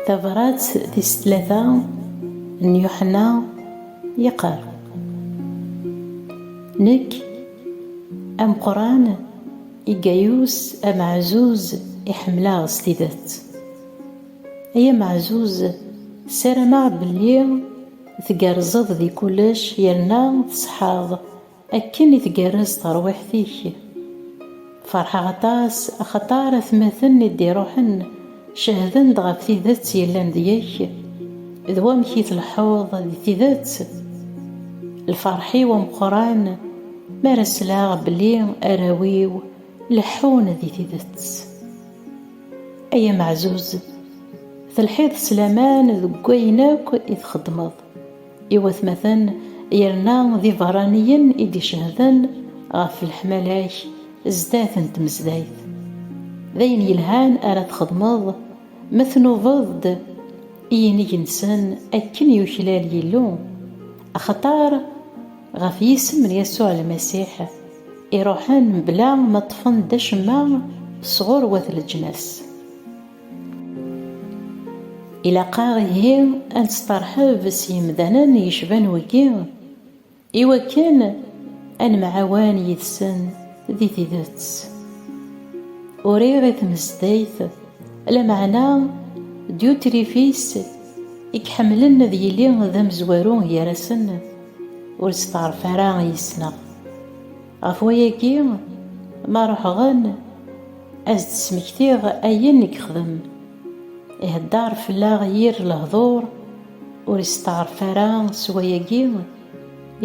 Tabrat tis tlata n Yuḥenna yeqqar Nekk ameqran i Gayus ameɛzuz i ḥemmleɣ s tidet. Ay ameɛzuz, ssarameɣ belli tgerrzeḍ di kullec yerna tṣeḥḥaḍ. Akken i tgerrez terwiḥt-ik! Ferḥeɣ aṭas axaṭer atmaten i d-iruḥen cehden-d ɣef tidet yellan deg-k d wamek i tleḥḥuḍ di tidet. Lferḥ-iw ameqqran mi ara sleɣ belli arraw-iw leḥḥun di tidet. Ay ameɛzuz, telḥiḍ s laman deg wayen akk i txeddmeḍ. I watmaten, yerna d iberraniyen i d-icehden ɣef leḥmala-k zdat n tmezdayt. D ayen yelhan ara txedmeḍ ma tnubeḍ-d i yinig-nsen akken yuklal Yillu, axaṭer ɣef yisem n Yasuɛ Lmasiḥ i ruḥen mebla ma ṭṭfen-d acemma sɣur wat leǧnas. Ilaq-aɣ ihi ad nesṭerḥeb s yemdanen yecban wigi i wakken ad nemɛawan yid-sen di tidet. Uriɣ i tmezdayt, lameɛna Dyutrifis i iḥemmlen ad yili d amezwaru gar-asen, ur yesteɛref ara i yis-neɣ. Ɣef wayagi, ma ruḥeɣ-n, ad s-d-smektiɣ ayen i yexdem. Ihedder fell-aɣ yir lehdur, ur isteɛref ara s wayagi,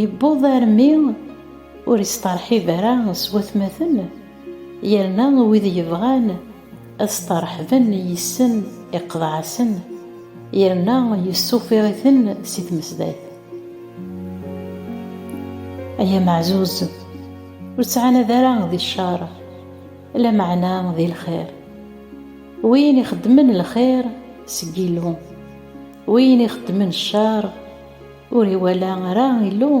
yewweḍ armi ur isteṛḥib ara s watmaten, yerna wid yebɣan, ad staṛeḥben yis-sen iqḍeɛ-asen, yerna yessufiṛ-iten si tmesdayt. Ay ameɛzuz, ur ttɛanad ara di cceṛ, lameɛna di lxiṛ. Win ixeddmen lxiṛ, seg Illu, win ixeddmen cceṛ, ur iwala ara Illu.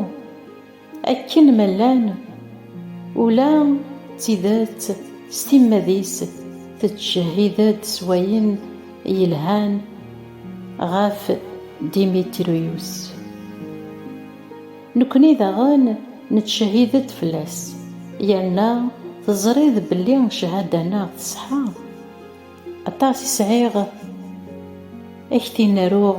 Akken ma llan, ula d tidet s timmad-is tettjehhid-d s wayen yelhan ɣef Dimitriyus. Nekkni daɣen nettjehhid-d fell-as, yerna teẓriḍ belli cchada-nneɣ teṣḥa. Aṭas i sɛiɣ ad k-t-in-aruɣ.